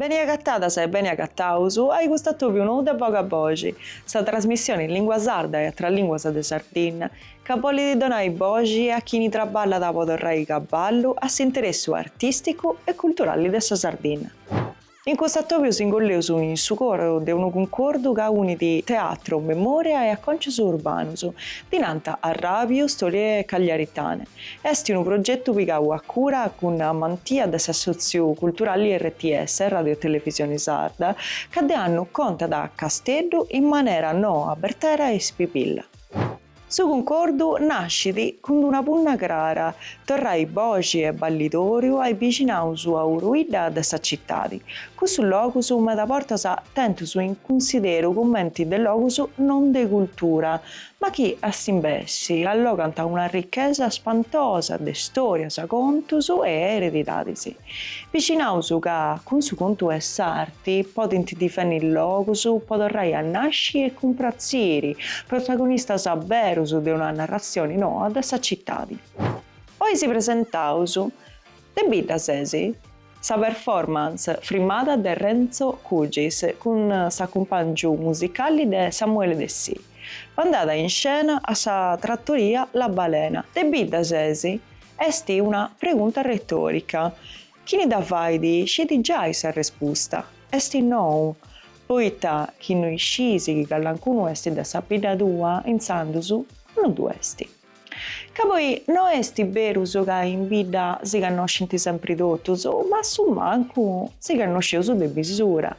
Beni agatadas e beni agataus ai custu atòbiu nou de Boga Boxi, sa trasmissioni in lingua sarda e atras linguas de Sardinna, ca bolit donai boxi a chini traballat po torrai cabballu a s'interessu artisticu e culturalli de sa Sardinna. In custu atobiu s'ingolleus in su coro de unu cuncordu ca unit teatru, memòria e acòncius urbanus, dinanta a ràdiu, Storie Cagliaritane. Est unu progetu pigau a cura cun amantia de s'assòtziu culturali rts, Radiotelevisioni Sarda, ca de annu contat Casteddu in manera noa, bertera e spibilla. Su cuncordu nascit cun una punna crara, torrai boxi e balidori ai bixinaus a uruidda de sa citadi. Cussus logus meda bortas tentus in cunsideru cumenti de logus non de cultura, ma chi a s'imbessi allogant una ricchesa spantosa de storias, contus e eredidadis. Bixinaus ca cun su contu 'e s'ar. ti podint difenni logus po torrai a nasci e cumpratziri protagonistas berus de una narratzioni noa de sa citadi. Oi si presentaus de bidda ses sa performance frimada de Renzo Cugis cun s'acumpàngiu musicalli de Samuele Dessì, pandada in scena a sa tratoria La Balena de bidda ses est una pregunta retòrica Chini dda fait sciit giai sa respusta, est nou, poita chi no iscis chi callancunu est de sa bidda tua, intzandus no ddu est. Ca poi no est berus ca in bidda si cannoscint sempri totus, ma a su mancu si cannosceus de bisura.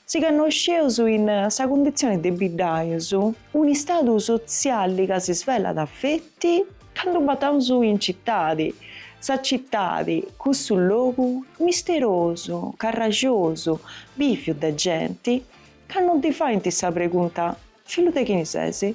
Si cannosceus in sa cunditzioni de biddaius, un'istadu sotzialli ca si svelat feti candu bataus in citadi, sa citadi, cussu logu misterosu, carraxosu, biviu de genti, ca non ti faint sa pregunta, Fillu de chini sesi?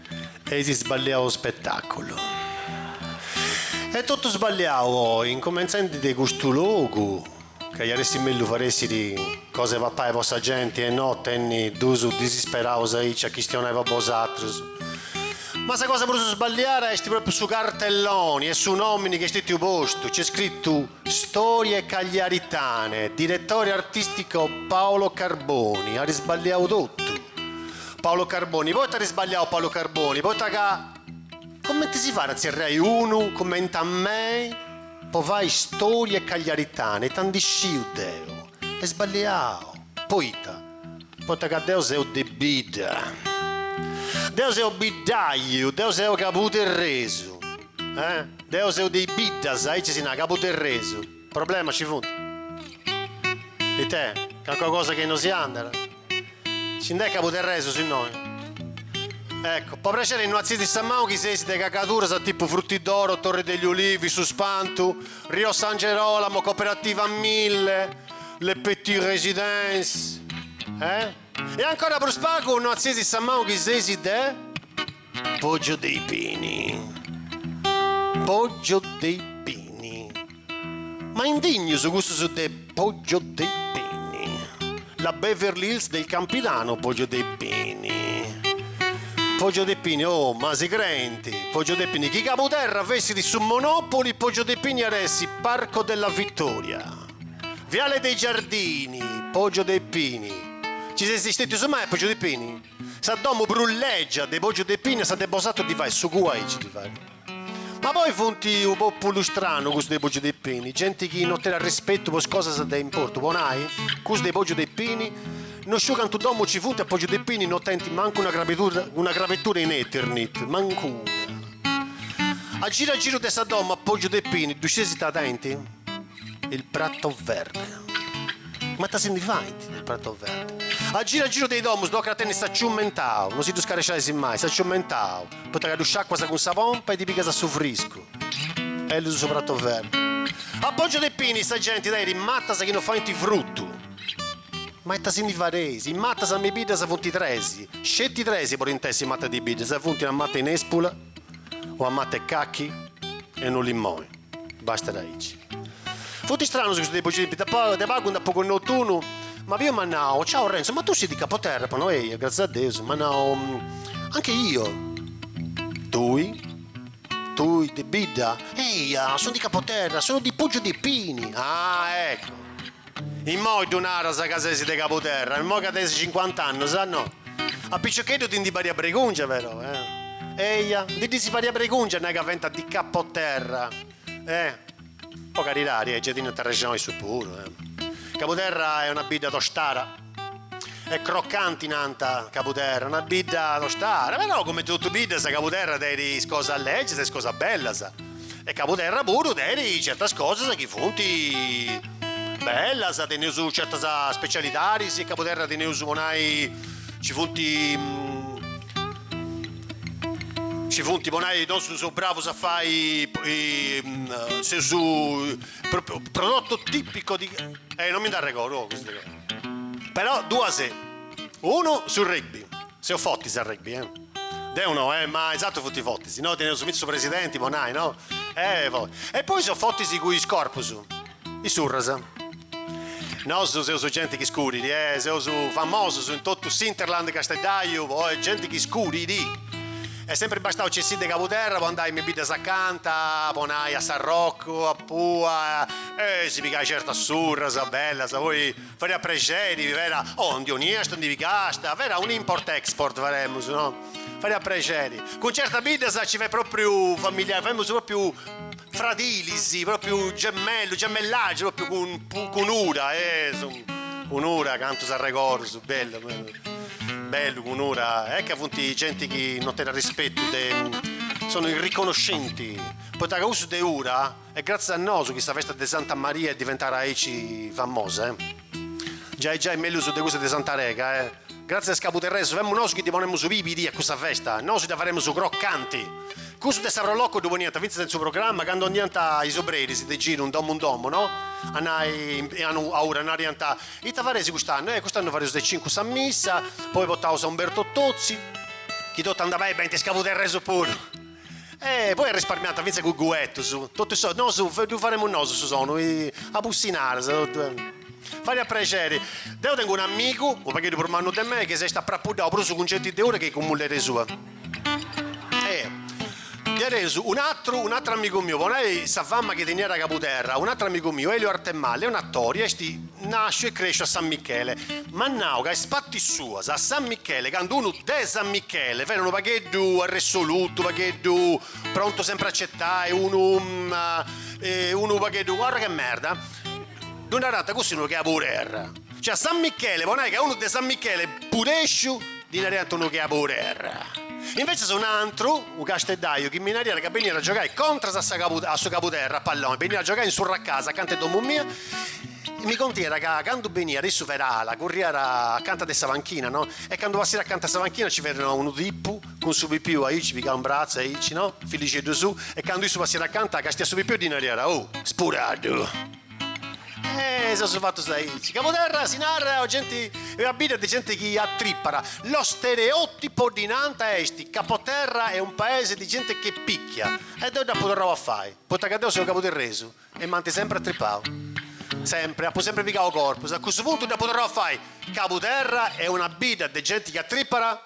Est sballiau u spetaculu. Est totu sballiau oi, incumentzendi de custu logu ca iat essi mellu fatzessiri cosa 'e papai po sa genti e no tenni dus disisperaus aici a chistionai po bosatrus. Ma sa cosa prus sballiara esti propriu su cartelloni e su nomini chi est stettiu postu, nc'est scrittu. Storie cagliaritane, diretore artistico Paolo Carboni, at isballiau totu Paolo Carboni, poita at isballiau Paolo Carboni, poita ca comenti si fai a tzerrai unu cumenti a mei po fai storie cagliaritane, ita ndi sciu deu, est sballiau, poita, poita ca deu seu de bidda, deu seu biddaiu, deu seu cabuderresu. Eh? Deo seu de i biddas, aici si nara Cabuderresu. Problemas ci funt? Ite? Calincuna cosa chi no si andat? Ci nd'est Cabuderresus innoi? Ecco, po prexeri no atzidis sa manu chi seis de cagaduras a tipu Frutti d'Oro, Torre degli Ulivi, Su Spantu, Rio San Gerolamo, Cooperativa Mille, Le Petit Residence. Eh? E ancora prus pagu no atzidis sa manu chi seis de. Poggio dei pini Poggio dei pini Ma indignus cussus de Poggio dei pini La Beverly Hills del Campidano Poggio dei pini Poggio dei pini Oh ma si crenti Poggio dei pini Chi Cabuterra fessit su Monopoli Poggio dei pini at essi Parco della Vittoria Viale dei Giardini Poggio dei pini Ci seis stetius mai a Poggio dei pini? Sa domu prus lègia de Pògiu de Pini a sa de bosatrus ddi fait su cua aici ddi fait. Ma poi funt unu pòpulu stranu cussus de Pògiu de Pini, genti chi no tenet rispetu po is cosas de importu, po nai, cussus de Pògiu de Pini, no sciu cantu domus ci funt a Pògiu de Pini no tenint mancu una crabedura una crabetura in Eternit, mancu una. A giru a giru de sa domu a Pògiu de Pini ddu scieis ita tenint? Il prato verde. Ma ita si ndi faint del prato verde? A giru a giru de i domus tocat a tenni s'aciummentau, no si ddu scaresciais mai, s'aciummentau, poita ca ddu sciacuas cun sa pompa e ddi pigas su friscu. Bellu su prato verde. A Poggio de Pini sa genti tenit matas chi no faint frutu. Ma ita si ndi fadeis? Is matas me biddas funt tres, sceti tres po podint essi mata de biddas, funt una mata 'e nespula, una mata 'e cachi e unu limoni. Bastat aici. Funt istranus custus de Pogiu. De pagu nd'apu connotu unu, m'at biu m'at nau, Ciao Renzo, ma tu sei di Capoterra? Apu nau eia, gratzias a Deus, m'at nau, Anche io. Tui? Tui de bidda? Eia, sono di Capoterra, sono di Poggio di Pini. Ah, ecco! Immoi ddu naras ca ses de Cabuterra, immoi ca tenes cincuant'annus, a no? A piciocheddu ti ndi pariat bregungia però, eh? Eia, ndi ddis pariat bregungia a nai ca fiant di Capoterra, eh? Po caridadi, eh, gei tenint arrexoni issus puru, eh? Cabuterra est una bidda tostada. Est crocanti, nant, Cabuderra, una bidda tostara, però cumenti totu biddas Cabuderra tenit is cosas lègias e is cosas bellas e Cabuderra puru tenit certas cosas chi funt bellas, teneus certas specialidadis, in Cabuderra teneus po nai, nci funt, nci funt po nai, nosu seus bravus a fai, seus Prodotto tipico di... Eh, non mi nd'arregordu, oh, questo... Però, duas... Unu, su rugby. Seus fotis a rugby, eh. Deu no, eh, ma is atrus funti fotis. Si no, teneus fintzas su presidenti, po nai, no? Eh, po... E poi seus fotis cu is corpus. Is surras. Nosu seus genti chi scurit, eh, seus famosus in totu s'Interland Casteddaiu po oe genti chi scurit. Est sèmpiri bastau a nc'essi de Cabuterra po andai me biddas acanta, po nai a Sarrocu, a Pua, e si pigai certas surras bellas, poi fadiat prexeri, chi fera, oh, ndi 'oniast, ndi pigast, fera un import export faremus, no, fadiat prexeri. Cun certas biddas nci fiat propriu familia, femus propriu Fradilis, propriu gemellu, gemellaggi, propriu cun, cun, cun Ura, eh, su, cun Ura, cantus arregordus, su bellu, bellu, cun Ura, eh, ca funt genti chi non tenit arrispettu de, sono irriconoscenti, poita ca cussus de Ura, est gratzias a nosu chi sa festa de Santa Maria est diventara aici famosa, eh. Giai giai mellus de cussa de Santa Rega eh. Gratzias a is cabuterresus, femus nosu chi ddi ponemus pìbiri a cussa festa, nosu dda faremus crocanti. Cussus de sa Pro Loco ddu poniant fintzas in su programma candu andiant is obreris de giru in domu in domu no, a nai, a Ura, naraiant, ita fareis cust'annu, eh cust'annu fareus a is cincu sa missa, poi potaus a Umberto Tozzi, chi totu andat beni benint is cabuterresus puru. E poi arrisparmiant fintzas cun guetus, totu is sodus, nosu ddu faremus nosu su sonu, a bussinadas, totu. Fadiat prexeri. Deu tengu un amigu, unu pagheddu prus mannu de mei, chi s'est aprapuddau prus cun genti de Ura chi cun mulleri sua. E difatis un'atru, un'atru amigu miu, po nai sa fama chi teniat a Cabuterra, un'atru amigu miu, Elio Arthemalle, est un'atori, est Nàsciu e crèsciu a San Michele. M'at nau ca is patis suas a San Michele, candu unu de San Michele ferat unu pagheddu arresolutu, unu pagheddu prontu sempri a certai, unu unu pagheddu arrogu 'e merda, ddu narànt cuss'est unu 'e Caburerra. Cioè a San Michele po nai ca unu de San Michele pudèsciu Ddi naraiant unu 'e Caburerra. Invecias un'antru, unu casteddaiu, chi mi naraiat ca beniat a giogai contras a a su Cabuderra, a palloni, beniat a giogai in su Racasa, acanta 'e domu mia, e mi contiat ca candu beniat issu ferat ala, curriat acanta de sa panchina, no, e candu passiat acanta 'e sa panchina nci ferat unu tipu cun su pipiu aici pigau in bratzu aici, no, fillixeddu suu, e candu issu passiat acanta, castiat su pipiu e ddi naraiat, Oh, spuraddu! Eh, seus fatus aici. Cabuterra si narat genti, est una bidda de genti chi atripat. Lo stereotipo ddi nant est, Capoterra è un paese di gente che picchia. E deu dd'apu torrau a fai, poita ca deu seu cabuterresu e m'ant sempri atripau. Sempri, apu sempri pigau corpus. A cussu puntu dd'apu torrau a fai, Cabuterra est una bidda de genti chi atripat?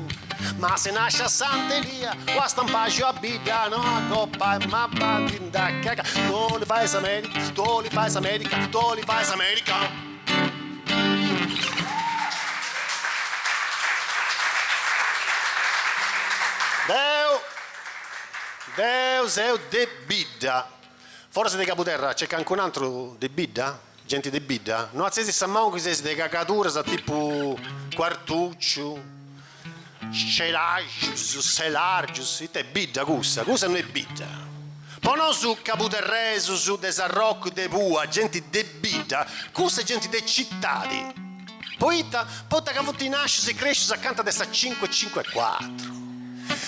Ma si nasci a Sant'Elia o a Stampaxu a bidda no acoppa e m'abbandit in dacca Tu li fai sa medica, tu li fai sa medica, tu li fai sa medica. Deu deu seu de bidda. Foras de Cabuderra nc'est cancun'antru de bidda? Genti de bidda, no atzeis sa manu chi seis de cagaduras tipu Quartucciu, Ceraxus, Selargius, ita bidda cussa, cussa no est bidda. Po nosu cabuterresus, de Sarrocu, de Pua, genti de bidda, cussa est genti de citadi, poita, poita ca funt nascius e crescius acanta de sa cinque cinque quattro.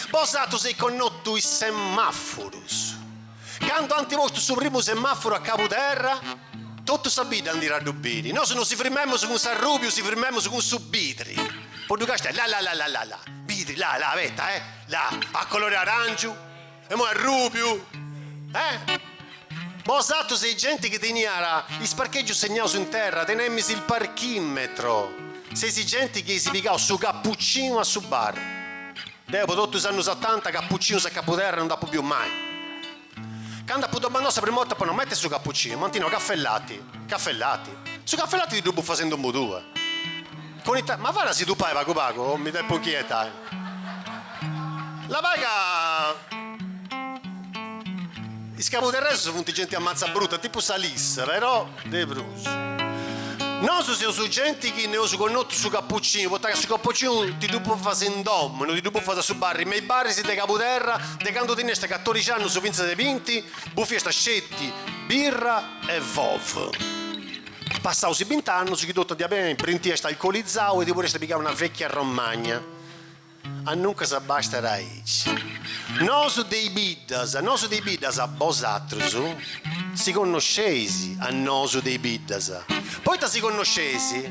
Bosatrus eis connotu is semafurus. Candu ant postu su primu semàfuru a Cabuterra, totu sa bidda andàt a ddu biri. Nosu no si frimemus cun s'arrùbiu, si frimemus cun su bidri. Po ddu castiai, la la la la la, bidri, la la, abeta, eh, la, a colori aràngiu, imoi arrùbiu, eh. Bosatrus seis genti chi teniat is parchègius segnaus in terra, tenemis il parchìmetro, seis genti chi eis pigau su cappuccinu a su barri. Deu po totu is annus otanta cappuccinus in Cabuterra no nd'apu biu mai. Candu apu domandau sa prima 'orta po no mettiri su cappuccinu, m'ant nau caffè latte, caffè latte. Su caffè latte ti ddu bufas in domu tua. Con ita, ma fana si ddu pai pagu pagu, mi depu inchietai. La pai ca is cabuterresus funt genti ammazza bruta, tipu sa Lis, però. De prus. Nosu seus genti chi no eus connotu su cappuccinu, poita ca su cappuccinu ti ddu bufas in domu, no ti ddu bufas a su barri, me is barris de Cabuterra, de candu teniast catorixi annus fintzas a binti, bufiast sceti birra e vov. Passaus is bint'annus chi totu andiat beni brintiast alcolizau e ti podiast pigai una vecchia romagna. Aduncas abbastat aici. Nosu de i biddas, nosu de i biddas, bosatrus si connosceis a nosu de i biddas, poita si connosceis,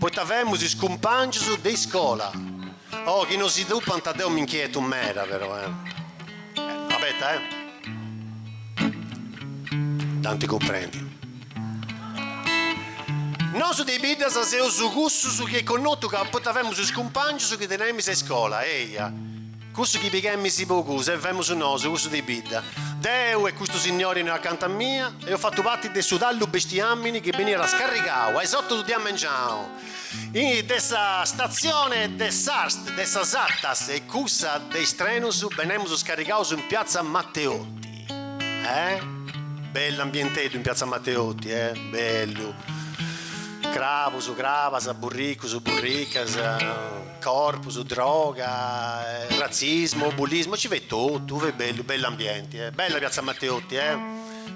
poita femus is cumpangius de iscola. Oh, chi no si tupant deu m'inchietu meda però eh. Abeta eh. Dd'anti cumprendi. Nosu de biddas seus cussus chi connotu ca poita femus is cumpangius chi tenemis a iscola, eia, cussu chi pighemis po cus e femus nosu cussu de bidda. Deu e custu signori innoi acanta mia, eus fattu parti de su tallu 'e bestiamini chi beniat scarrigau a is otu de amengianu de sa stazione de ARST de sa SATAS e cussa de is trenus, benemus scarrigaus in piazza Matteotti. Eh! Bellu ambienteddu in piazza Matteotti eh! Bellu! Crabus, crabas, burricus, burricas, corpus, droga, razzismu, bullismu, ci fiat totu, fiat bellu, bellu ambienti eh! Bella piazza Matteotti eh!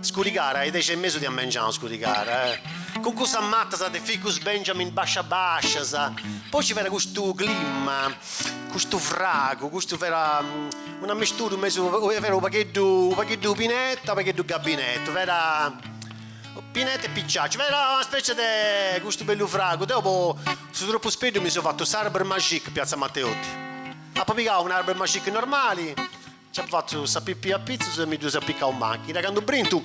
Scurigàrat a is dexi e mesu de a mengianu scurigàrat eh! Cun cussas matas de ficus Benjamin bascias bascias, poi ci fera custu clima, custu fragu, custu fera. Unu misturu mesu fera u pagheddu u pagheddu pineta u pagheddu gabinetu fera pineta e pisciacciu fera una specie de custu bellu fragu deu po su tropu speddu mi seu fattu s'arbre magique piazza Matteotti apo pigau un'arbre magique normali ci apo fattu sa pipì a pitzus e mi ddu so apicau in machina candu brintu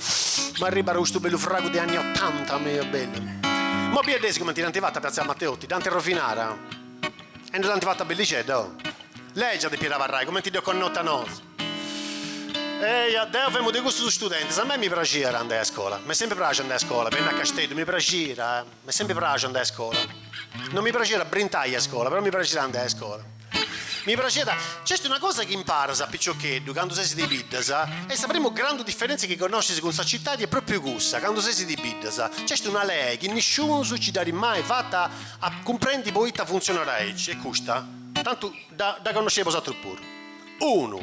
m'arribbada custu bellu fragu de anni ottanta bellu imoi biddeis comente dd'ant fatta piazza Matteotti dd'ant rovinada E dd'ant fata bellixedda, oh. Legia depiat abarrai, cumenti dd'eus connota nosu. Eia, deu femu de cussus studentis. A mei mi praxiat andai a iscola. M'est sempri praxiu andai a iscola, benni a Casteddu, mi praxiat. M'est sempri praxiu andai a iscola. Non mi praxiat brintai a iscola, però mi praxiat andai a iscola. Mi praxiat. Nc'est una cosa chi imparas a piciocheddu, candu seis de biddas, e sa primu grandu diferèntzia chi connoscis cun sa cittadi est pròpriu cussa, candu seis de biddas, nc'est una lei chi nisciunus nci dd'at mai fata A cumprendi poita funtzionat aici e custa tantu dda dda connoscieis bosatru puru. Unu,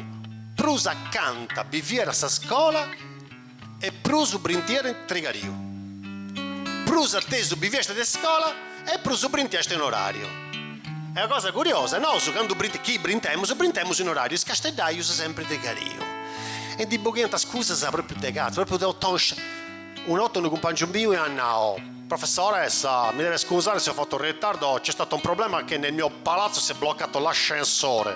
prus acanta biviat a scola e prus brintiat trigariu. Prus a tesu biviast de scola e prus brintiast in orariu. Est una cosa curiosa, nosu candu brint chi brintemus, brintemus in orariu, is casteddaius sempri trigariu. E ndi boghiant iscusas propriu de catzu, propriu de tontus. Una 'orta unu cumpàngiu miu iat nau, Professoressa, mi deve scusare se ho fatto ritardo, c'è stato un problema che nel mio palazzo si è bloccato l'ascensore.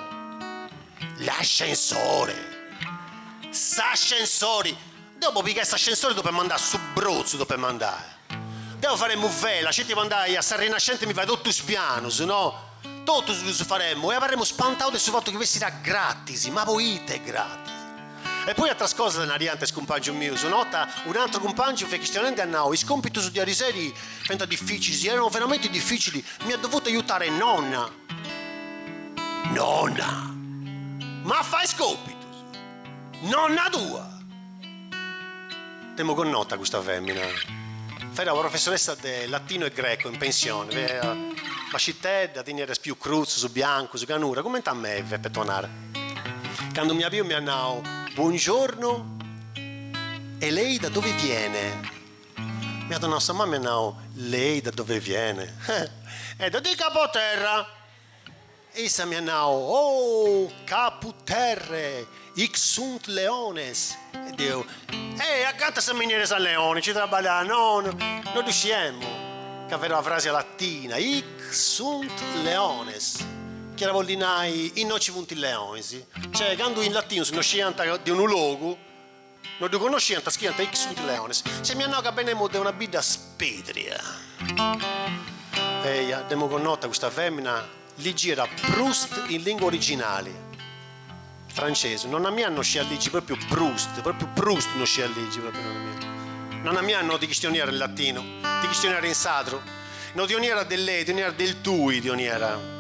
L'ascensore! S'ascensori! Deo po pigai s'ascensori depemu andai a su Brotzu depemu andai. Deo faremu vela, sceti po andai a sa Rinascente a mi fai totu is pianus, no? Totus ddus faremu e abarremu spantau de su fatu chi fessira gratis, ma poite gratis? E poi atras cosas nariant is cumpangius mius, una 'orta un'atru cumpangiu fia chistionendi at nau is compitus de ariseri fiant difficilis, erano veramente difficili, mi ha dovuto aiutare nonna, nonna, ma a fai is compitus? Nonna tua? Dd'emu connota custa femmina. Fiat una professoressa de latino e greco in pensione, fiat bascitedda, teniat is pius crutzus, biancus, canura, cumenti a meve, petonara. Candu m'ia biu m'ia nau, Buongiorno e lei da dove viene? M'ia donau sa manu m'ia nau, Lei da dove viene? Eh! Eh! Da di Capoterra! E issa mi at nau, Oh, caput terrae, hic sunt leones! E deu, E acanta sa miniera San Leone, nci traballas? No, no ddu sciemu ca fiat una frasi latina, hic sunt leones, chi iat a bolli nai, innoi nci funt is leonis. Cioè, candu in latinu si no sciant de unu logu. No ddu connosciant, scriant hic sunt leones. Cioè m'iat nau ca benemu de una bidda spedria. Eja, dd'emu connota custa femina ligiat Proust in lingua originali, francesu. Nonna mia no sciat ligi propriu Proust, propriu Proust no sciat ligi propriu nonna mia. Nonna mia no ti chistioniat in latinu, ti chistioniat in sadru. No ti 'oniat de lei, ti 'oniat del tui, ti 'oniat.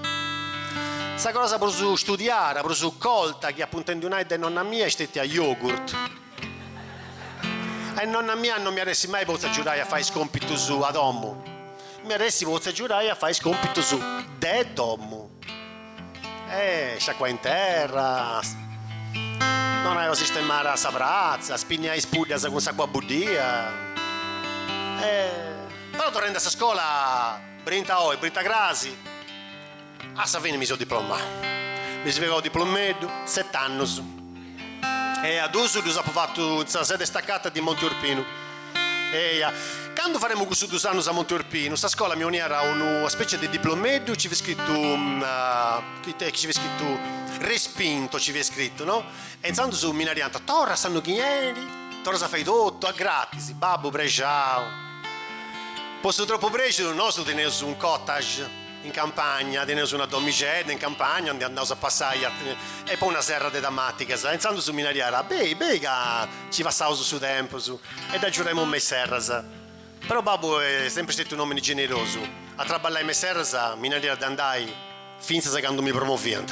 Sa cosa prus studiada, prus colta chi apu intendiu nai de nonna mia est stetia yogurt. E nonna mia non m'iat essi mai potzu agiudai a fai is compitus a domu, m'iat essi potzu agiudai a fai is compitus de domu. Eh, sciacquai in terra, donai una sistemara a sa pratza, spinniai is puddas cun s'acua buddia. Eh, però torrendi a sa scola, brinta oi, brinta crasi, a sa fini mi seu diplomau. Mi seu pigau u diplomeddu, set'annus. Eja, duus ddus apu fatu in sa sede stacata di Monti Urpinu. Eja, candu faremu cussus duus annus a Monti Urpinu, sa scola mi 'oniat unu una specie de diplomeddu, nci fiat scritu, chi ita nci fiat scritu, respinto nci fiat scritu, no? E intzandus mi naraiant, torra s'annu chi 'enit, torras a fai totu, a gratis, babbu prexau. Po su tropu prexu, nosu teneus un cottage. In campagna, teneus una domixedda in campagna aundi andaus a passai e poi una serra de tamatigas e intzandus mi nariat, Bei, bei ca nci passaus su tempus e dd'agiuremu me is serras. Però babbu est sempri stetiu un'omini generosu, a traballai me is serras mi nariat de andai fintzas candu mi promoviant.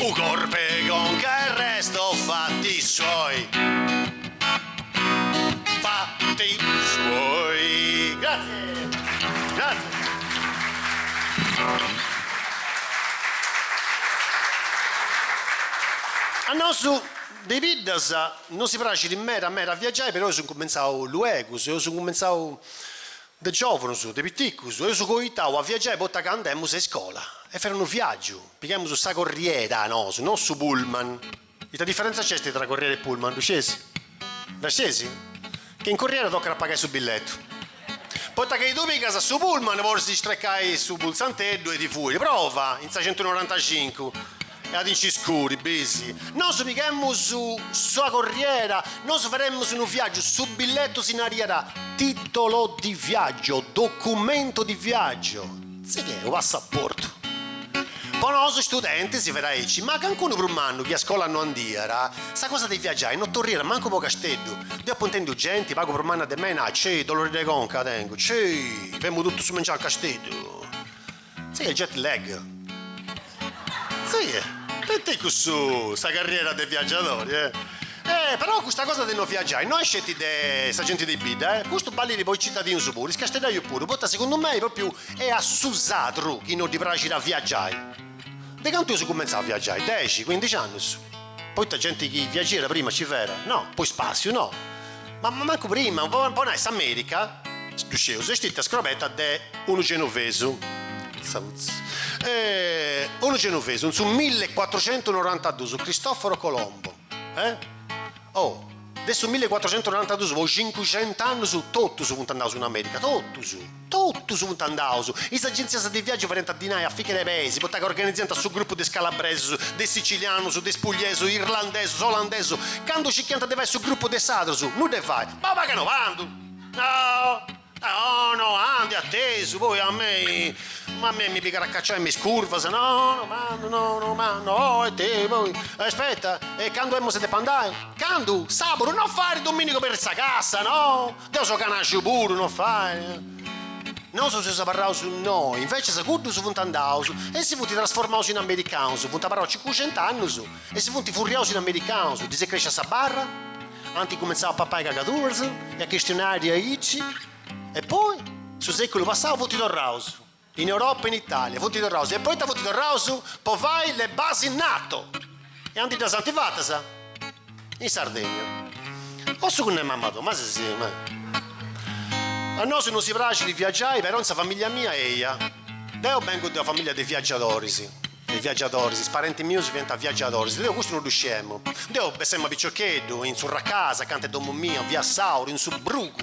U corpe conca e resto fatti suoi fatti suoi grazie grazie a nosu de biddas nosi praxit meda meda a viaggiai però eus incumentzau luegus eus incumentzau De giòvunus, de piticus, eus coitau a viagiai poita ca andemus a iscola. E fiat unu viagiu. Pighemus sa corriera nosu, no su pullman. Ita diferentza nc'est tra corriera e pullman, ddu scieis? Dda scieis? Ca in corriera tocat a pagai su billetu. Poita chi tui pigas su pullman, podis strecai su pultzanteddu e ti fuit. Prova in sa centunorantacincu. E a ti nci scudi, bis. Nosu pighemus sa corriera, nosu fademus unu viàgiu, su billetu si nariat titolo di viaggio, documento di viaggio, si che unu passaportu. Po nosu studentis fit aici, ma cancunu prus mannu chi a scola no andiat, sa cosa de viaggiai no torriat mancu po Casteddu. Deu apu intendiu genti pagu prus manna de mei nai, Cei, dolori de conca tengu, cei, femu totu su mengianu a Casteddu. Sighit jet lag. Sighit. Ite cussu sa carriera de viaggiadori eh. E però custa cosa de no viaggiai no est sceti de sa genti de bidda eh. Custu ballit po is citadinus puru, is casteddaius puru, poita segundu mei propriu est a su sadru chi no ddi praxit a viaggiai. De cantu eus cumentzau a viaggiai, dexi, cuindixi annus, poita genti chi viaggiat prima ci fera, no, po ispàssiu, no. Ma mancu prima, po nai s'Amèrica, ddu sceus, est stetia scrobeta de unu genovesu, unu genovesu, in su millecuatruxentunorantadus, Cristoforo Colombo, oh, de su millecuatruxentunorantadus po cincuxent'annus totus funt andaus in Amèrica, totus. Totus funt andaus. Is agèntzias de viàgiu fariant dinai a fiche de peis, poita ca organiziant su grupu de is calabresus, de is sicilianus, de is pugliesus, irlandesus, olandesus, candu cichiant de fai su grupu de sadrus, nudda 'e fai, bau pagu no andu! Aho! Aho no! Andu atesu, poi a mei, ma mei mi pigat a cacciai me is curvas, no no andu, no no andu, oh e te, poi, aspetta, e candu emus a depi andai? Candu? Sàbaru? No fait. Dominigu aperrit sa cassa, no! Deu seu canaxu puru, no fait. Nosu seus abarraus innoi, inveces cuddus funt andaus e si funt trasformaus in americanus, funt abarraus cincuxenta annus e si funt furriaus in americanus, ddis est crèscia sa barra, ant cumentzau a papai cagaduras e a chistionai diaici e poi, su sèculu passau, funt torraus. In Europa e in Italia funt torraus e poita funt torraus po fai le basi NATO e aundi ddas ant fatas in Sardegna o su cunnu 'e mamma tua, ma si si ma a nosu no si praxit viagiai però in sa familia mia eia, deu bengu de una familia de viagiadoris, de viagiadoris, is parenti mius fiant viagiadoris, deu custu no ddu scemu, deu bessemu a piciocheddu in is arrugas acanta 'e domu mia via Sauru in su brugu,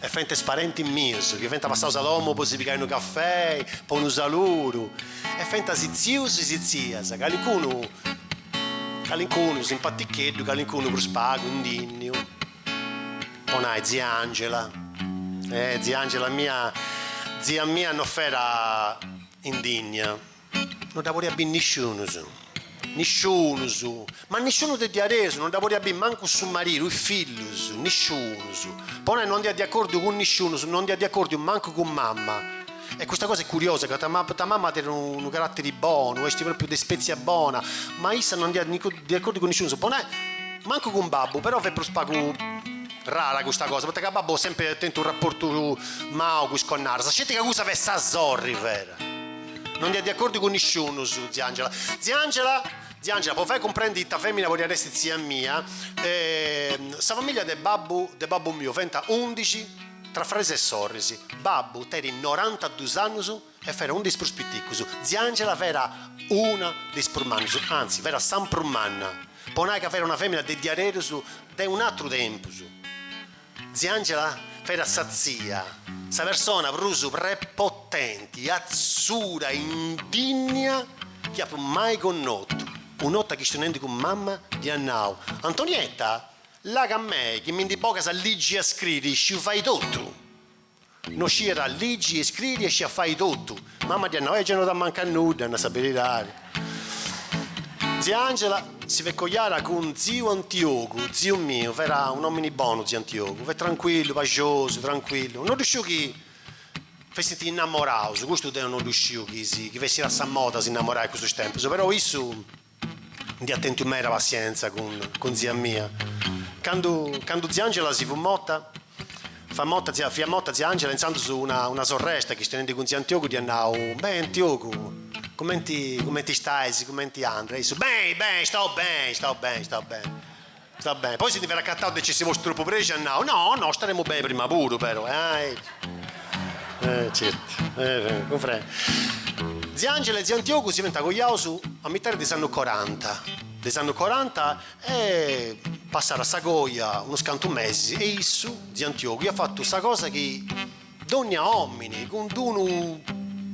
e fenta is parentis mius chi fenta passaus a domu po si pigai unu cafei, po unu saluru, e fenta is tzius is tzias, calincunu calincunu simpaticheddu, calincunu prus pagu indinniu, po nai tzia Angela, eh tzia Angela mia tzia mia no fera indinnia. No dda podiat biri nisciunus, nisciunus, ma nisciunu de diaderus, no dda podiat biri mancu su maridu, is fillus, nisciunus. Po nai no andiat de acordiu cun nisciunus, no andiat de acordiu mancu cun mama. E custa cosa est curiosa, ca ta ta mama at unu carattiri bonu, est propriu de spezia bona, ma issa no andiat de acordiu cun nisciunus, po nai mancu cun babbu, però fiat prus pagu rara custa cosa, poita ca babbu at sempri tentu unu rapportu mau cun is connadas, sceti ca cussa fiat sa sorri vera. No andiat de acordiu cun nisciunus tzia Angela. Tzia Angela! Tzia Angela, po fai cumprendi ita femina podiat essi tzia mia, sa familia de babbu de babbu miu fenta undixi, tra fraris e sorris. Babbu teri norantadus annus e fera unu de is prus piticus. Tzia Angela fera una de is prus mannus, anzi, fera sa prus manna, po nai ca fera una femina de diaderus de un'atru tempus. Tzia Angela fera sa tzia, sa persona prus prepotenti e atzura indinnia chi apu mai connotu. Un'ota chistionendi cun mama dd'ia nau, Antonietta, là ca a mei chi mi ndi bogas a liggi e a scriri, isciu fai totu. No sciat a ligi e scriri e sciat fai totu. Mama dd'hiat nau, E gi no t'amancat nudda, a nai sa beridari. Zia Angela si fiat coiara cun ziu Antiogu, ziu miu, fera un'omini bonu ziu Antiogu, fiat tranquillu, paxosu, tranquillu. No ddu sciu chi fessint innamoraus, custu deu no ddu sciu chi si chi fessira sa moda s'innamorai a custus tempus, però issu. Nd'iat tentu meda passientza cun tzia mia. Candu candu tzia Angela si fut morta, fat morta tzia fiat morta tzia Angela intzandus una una sorresta chistionendi cun tziu Antiogu dd'iat nau, Beni Antiogu, cumenti cumenti istaisi, cumenti andat? E issu, Beni, beni, istau beni, istau beni, istau beni. Stau beni, poi si ndi fera accattau de essi tropu prexau, at nau, No, no, staremu beni prima puru, però, eh. Eh, certu, eh, cumprendu. Zia Angela e ziu Antiogu si finta coiaus a mitari de is annus coranta, de is annus coranta e passada sa coia unus cantu mesis e issu, ziu Antiogu, iat fatu sa cosa chi dònnia òmini cun d-unu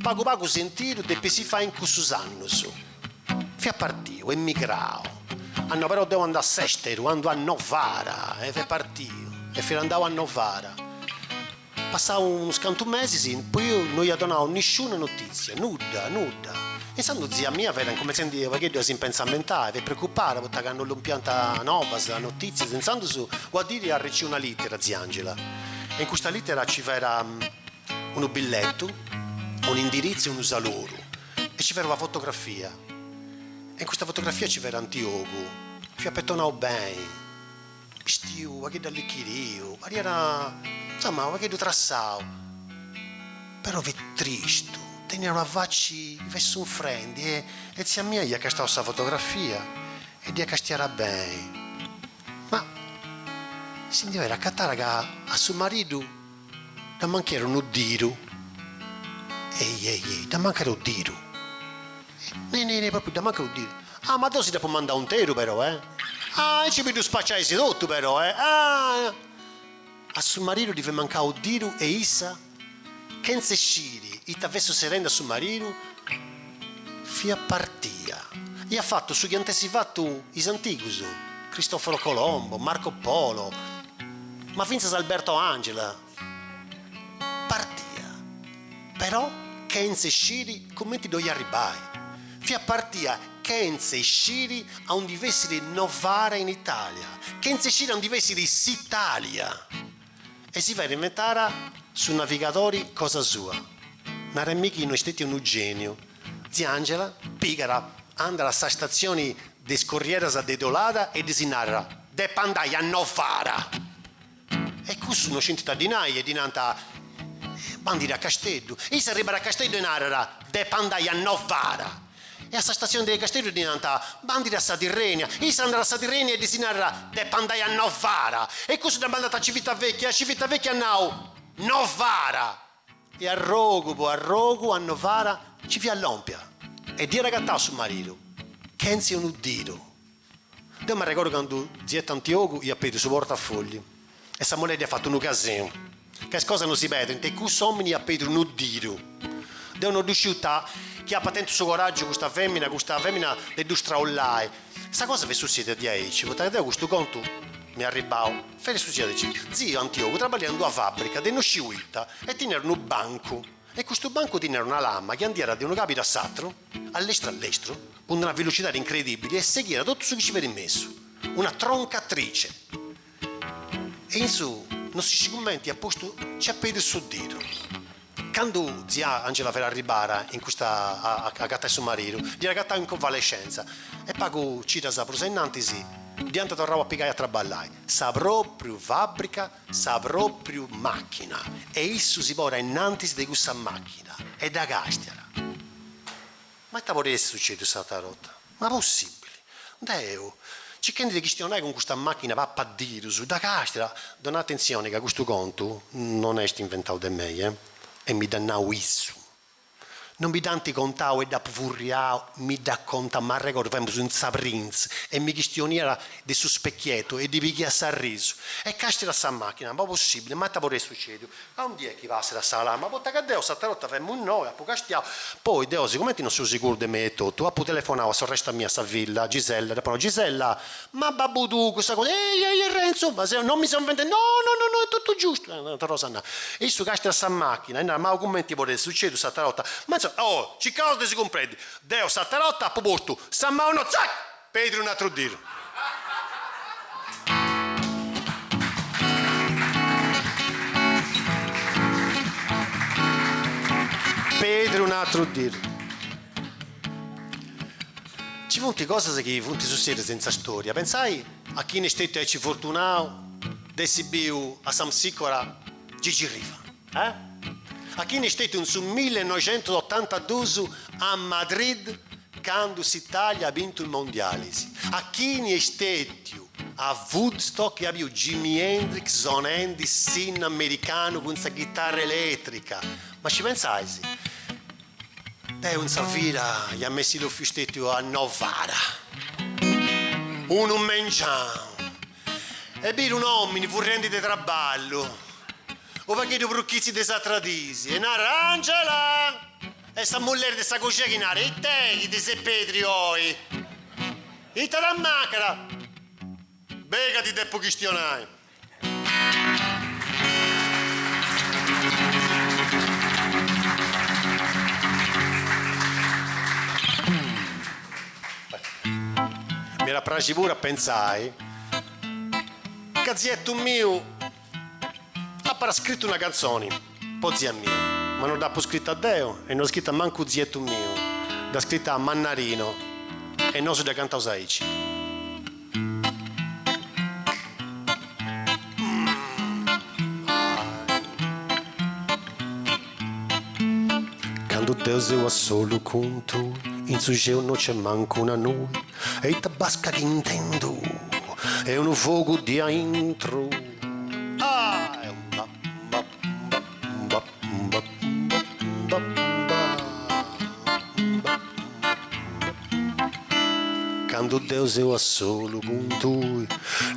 pagu pagu sentidu depit si fai in cussus annus, Fiat partiu, emigrau, ah no però deu andu a s'esteru, andu a Novara, e fiat partiu e fiat andau a Novara, passau unus cantu mesis, poi issu no iat donau nisciuna notizia, nudda, nudda, insandu tzia mia fiat incumentzendi unu pagheddu a s'impentzamentai, fiat preocupada poita ca no lompiant novas, notizias, insandus una dì iat arriciu una litera tzia Angela, e in custa litera ci fera unu billetu, un'indiritzu e unu saluru. e ci fera una fotografia e in custa fotografia ci fera Antiogu fiat petonau beni bistiu unu pagheddu allichiriu pariat insoma unu pagheddu trassau però fit tristu teniat una faci fiat sunfrendi e e tzia mia iat castau sa fotografia e dd'iat castiada beni ma si ndi fiat acatara ca a su maridu Dd'ammanchera unu diru, ei ei ei, dd'ammanchera unu diru, nei nei nei, propriu dd'ammanchera unu diru, ah ma deu si dd'apo mandau interu però eh, ah aici bi ddu spaciaisi totu però eh, ah. A su mariru ddi fiat mancau unu diru e issa, chentza isciri ita fessit sutzerendi a su mariru, Fiat partìa. Iat fatu su chi iant essi fatu is antigus, Cristoforo Colombo, Marco Polo, ma fintzas Alberto Angela. Partìa, però chentza isciri cumenti ddoi arribbai. Fiat partìa chentza isciri a undi fessiri Novara in Italia, chentza isciri a undi fessiri s'Italia. E si fiat inventara su navigadori cosa sua. Nara-mì chi no est stetiu unu geniu. Tzia Angela pigat andat a sa statzioni de is corrieras de Tuerra e ddis narat, Depu andai a Novara! E cussus no scintit a ddi nai e ddi nant, Bandit a Casteddu! E issa arribat a Casteddu e narat, Depu andai a Novara! E a sa stazione de Casteddu ddi nant, Bandiri a sa Tirrenia. Issa andat a sa Tirrenia e ddis narat, Depo andai a Novara. E cussus dda mandant a Civitavecchia e a Civitavecchia nau, Novara. E arrogu po arrogu a Novara nci fiat lòmpia e dd'iat agatau su maridu, chentzi unu didu. Deu m'arregordu candu tziu Antiogu iat pèrdiu su portafogliu e sa mulleri iat fatu unu casinu, ca is cosas non si perdint e cussu òmini iat pèrdiu unu didu. Deu no ddu sciu ita, chi apat tentu su coràgiu custa fèmina, custa fèmina de ddu straollai. Sa cosa fit sutzèdia diaici, poita ca deu custu contu m'est arribau, fiat sutzèdiu chi, tziu Antiogu traballiat in d'una fàbrica de no sciu ita e teniat unu bancu, E custu bancu tinniat una lama chi andiat de unu cabidu a s'atru, a lestru a lestru, cun una velocidadi incredibili e seghiat totu su chi ci fiat in mesu, una troncatrice. E issu, no si scit cumenti at postu, ci at pedriu su didu. Candu tzia Angela fiat arribada in custa a agatai su maridu, dd'iat agatau in convalescenza e pagu cidas prus ainnantis dd'iant torrau a pigai a traballai, sa propriu fabbrica sa pròpriu màchina e issu si ponit ainnantis de cussa màchina e dda càstiat. Ma ita podit essi sucèdiu s'àtera borta? Ma possìbili! Deu, circhendi de chistionai cun custa màchina papadirus, dda càstiat, donai atentzioni ca custu contu non est inventau de mei, e mi dd'at nau issu. Non mi dd'ant contau e dd'apu furriau, mi dd'at contau m'arregordu faemus in sa Prinz e mi chistioniat de su specchietu e ddi pighiat s'arrisu e castiat sa machina, ma possibili, ma ita podit essi sucediu, a und'i est chi passit a sa lama, poita ca deu s'atera 'orta faemu innoi, apu castiau, poi deu sigumenti non seu siguru de mei etotu, apu telefonau a sorresta mia a sa villa, Gisella, dd'apu nau, Gisella, Ma babbu tuu, cussa cosa. Ehi, ehi, e Renzu, ma seu, non mi seu inventendi, no, no, no, no, è tuttu giustu, e torrau a nai. E issu castiat sa machina e narat, ma cumenti podit essi sucediu s'attera otta, ma insomma, oh, circaus de si cumprendi, deu s'attera otta appu postu sa mau innoi, zac, Pedri un'atru diru. Pedri un'atru diru. Ci funt cosas chi funt sussèdias in sa stòria. Pentzai a chini est stetiu aici fortunau de essi biu a s'Amsicora Gigi Riva, e a chini est stetiu in su millenoixentosotantadus a Madrid candu s'Italia at bintu is Mondialis, a chini est stetiu a Woodstock e at biu Jimi Hendrix sonendi s'innu americanu cun sa ghitarra elètrica. Ma ci pentzais Deu in sa vida iam essi bofiu stettiu a Novara. Unu mengianu. E bidu un'omini furrendi de traballu, u pagheddu pru chizzi de is atras dis, e narat, Angela! E sa mulleri de sa coxia chi narat, It'è chi ti ses pedriu oi? Ita t'ammancat? Bei ca ti depu chistionai. M'iat a praxi puru a pentzai ca zietu miu apat scritu una cantzoni. Po tzia mia. Ma no dd'apo scrita deo e no scrita mancu tzietu miu, dd'at scrita Mannarino e nosu dda cantaus aici. Candu deu seu a solu cun tui, in su xeu no nc'est mancu una nui e ita basca chi intendu est unu fogu de aintru. Candu deu seu a solu cun tui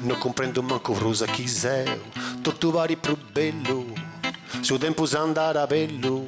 No cumprendu mancu prus a chi seu Totu parit prus bellu Su tempus andat a bellu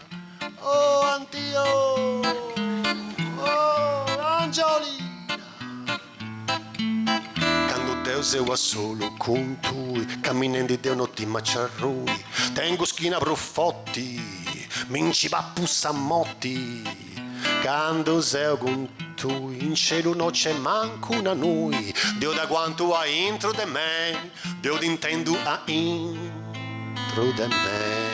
Oh Antio Oh Angiolina Cando deo seu a solu cun tui Caminendi deo no timu a nci arrui Tengu schina prus foti Mi nci papu sa moti Cando seu cun tui In celu no c'est mancu una nui Deo t'aguantu a intro de me Deo t'intendu a intro de me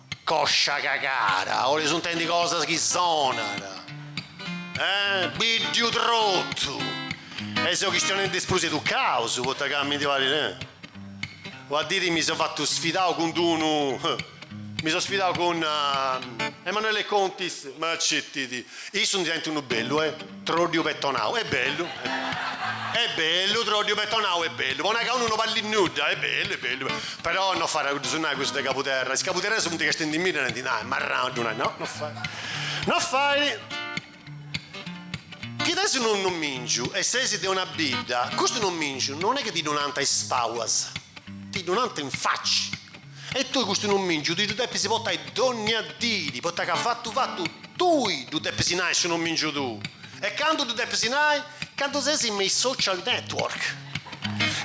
Coscia cagada, 'oleis intendi cosas chi sonana, eh, biddiu trotu, e seu chistionendi is prus educaus, poita ca mi ndi parit, eh, una diri mi seu fatu sfidau cun d'unu, mi seu sfidau cun Emanuele Contis, ma sceti issu ndi tenit unu bellu, eh. Troddiu petonau, est bellu, est bellu, est bellu, troddiu petonau, est bellu, po nai ca unu no balit nudda, est bellu, est bellu, però no fait a ddus nai cussu de Cabuterra, is Cabuterresus funt castiendi-mì e nant, nah, est marrau, ddu nai, no, no fait, no fait, chi tenis unu nomìngiu e ses de una bidda, custu nomìngiu non est chi ti ddu nant a is palas, ti ddu nant in faci. E tui custu nomìngiu ti ddu depis portai dònnia dì, poita ca fatu fatu tui ddu depis nai su nomìngiu tuu. E candu ddu depis nai? Candu ses me is social network.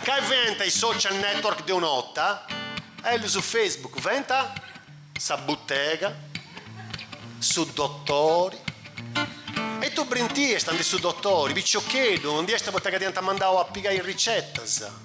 Cali fenta is social network de una 'orta? Bellu su Facebook, fenta sa butega, su dotori. E tui brintiasta andi su dotori, piciocheddu, andiasta poita ca ti ant mandau a pigai is ricetas.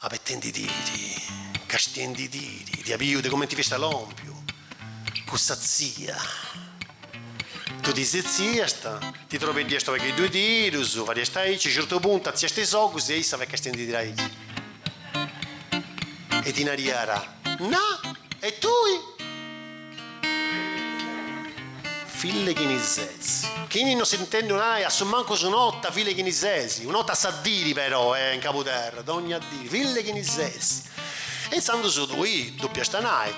Abetendi-tiri, castiendi-tiri, t'iat biu de comenti fiasta lompiu cussa tzia. Tui ti setziasta, ti trobeddiasta a pagheddu is dirus, fadiasta aici, a certu puntu atziasta is ogus e issa fiat castiendi-tiri aici e ti nariat, Na! E tui? Fill'e chini ses? Chini no s'est intèndiu nai assumancus un'ota, fill'e chini ses? Un'ota a sa diri però, e in Cabuterra, dogna diri, fill'e chini ses? E intzandus tui ddu depiasta nai.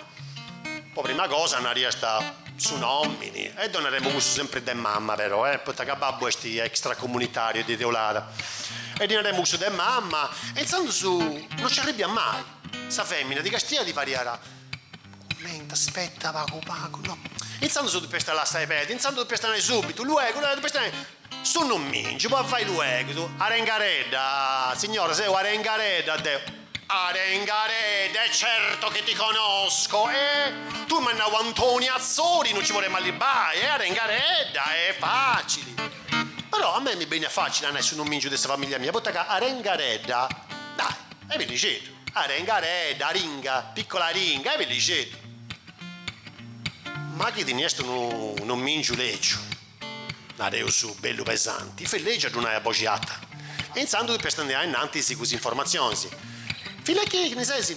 Po prima cosa nariasta su nomini, e ddu naremu cussu sempri de mama però, e, poita ca babbu esti extracomunitariu est de Teulada. E ddi naremu cussu de mama, e intzandus no ci arribiat mai. Sa femina ti castiat ti fariat. Cumenti, aspetta, pagu pagu, no. Intzandus ddu depiasta lassai pedi, intzandus ddu depiasta nai subitu, luegu, luegu, ddu depiasta nai, su nomingiu, po fai luegus, Arengaredda, signora, seu Arengaredda, deu, Arengaredda, e certo che ti conosco, e, tui m'as nau Antoni Atzori, no ci poremu arribai, e Arengaredda, est facili, però a mei mi beniat facili a nai su nomingiu de sa familia mia, poita ca Arengaredda, dai, est bellixeddu. Arengaredda, aringa, piccola aringa, est bellixeddu. Ma chi teniast unu nomìngiu lègiu, nareus bellu pesanti, fit lègiu a ddu nai a boxi ata, e intzandus depiast andai ainnantis cun is informatzionis. Fill'e chini ses?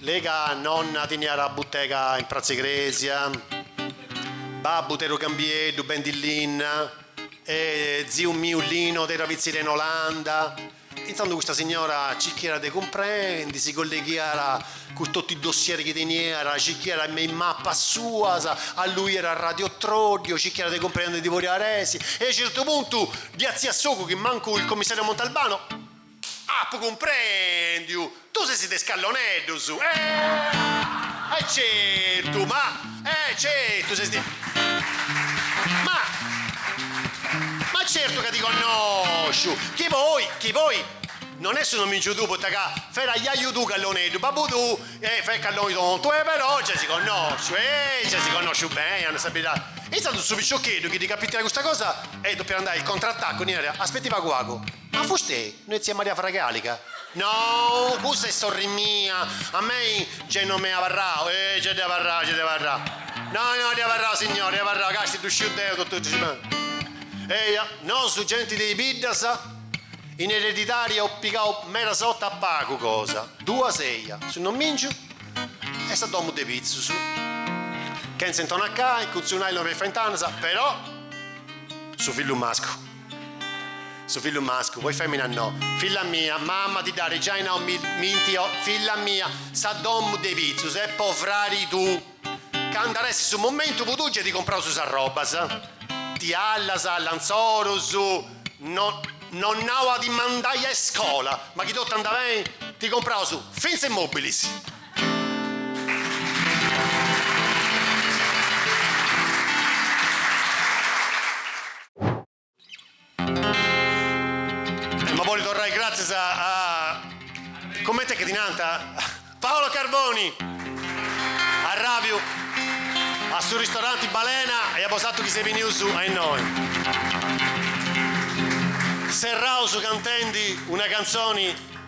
La' ca nonna teniat butega in pratza 'e crèsia, babbu tenit unu camioneddu, bendi linna, e ziu miu Lino tenit una pitzeria in Olanda, Intantu custa signora circhiat de cumprendi, si colleghiat cun totu is dossier chi teniat, circhiat me is mapas suas, alluiat a Radio Troddio, circhiat de cumprendi chini podiat essi e a certu puntu ddi atziat s'ogu chi mancu il commissariu Montalbano apu cumprendiu! Tui sesi de is calloneddus! Eehh! E certu! Ma. E certu! Sesi de. Ma. Ma certu ca ti connosciu! Chi poi. Chi poi. Non est su nomìngiu tuu, poita ca. Fiat ajaju tuu calloneddu, babbu tuu, fiat calloni tontu, e però nci sesi connosciu! Eehh! Nci sesi connosciu beni, a nai sa beridai! E intzandus su piciocheddu, chi ddi capitiat custa cosa, e depiat andai al contrattacco, ddi narat, Aspetti pagu pagu! Ma fustei no est tzia Maria Fragàliga? No, cussa est sorri mia, a mei gei no m'e abarrau, e gei dd'e abarrau, gei dd'e abarrau. No, no, dd'e abarrau, signora, dd'e abarrau, casti ddu sciu deu totu cussu chi. Eja, nosu genti de is biddas, in eredidadi eus pigau medas otas pagu cosa, duas eja, su nomìngiu e sa domu de pitzus, chentza intonacai, cun su nàilon me is fentanas, però su fillu mascu. Su fillu mascu, poi femina no. Filla mia, mamma ti dd'ari giai nau mi minti o filla mia, sa domu de pitzus est po frari tuu. Candu ar essi su momentu po tui giai ti compraus is arrobas, tiallas, lanzorus, no nau a ti mandai a iscola, ma chi totu anda beni, ti compraus finza is mobilis. Ma boli torrai gratzias a a coment'est chi ti nant? Paolo Carboni! Arràbiu a su ristoranti Balena e a bosatrus chi seis benius a innoi. Serraus cantendi una cantzoni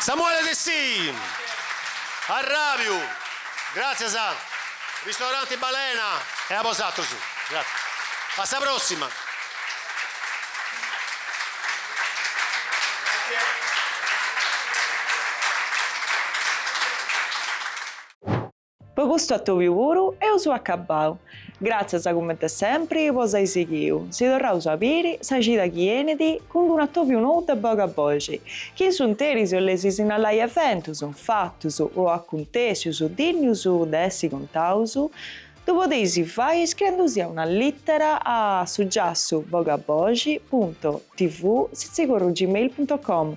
Samuele Dessì, arràbiu, gràtzias a Ristoranti Balena e a bosàteros. Gràtzias. A sa pròssima. Po custu atòbiu puru eus acabau. Gràtzias comente sempri po s'ai sighiu, si torraus a biri sa cida chi enit cun d'unu atòbiu nou de Bogaboxi, chi in s'unteris 'oleis sinnalai eventus, fatus o acuntèssius dinnius de essi contaus, ddu podeis fai iscriendusì una lìtera a su giassu bogaboxi punto tv sitzigorru gmail punto com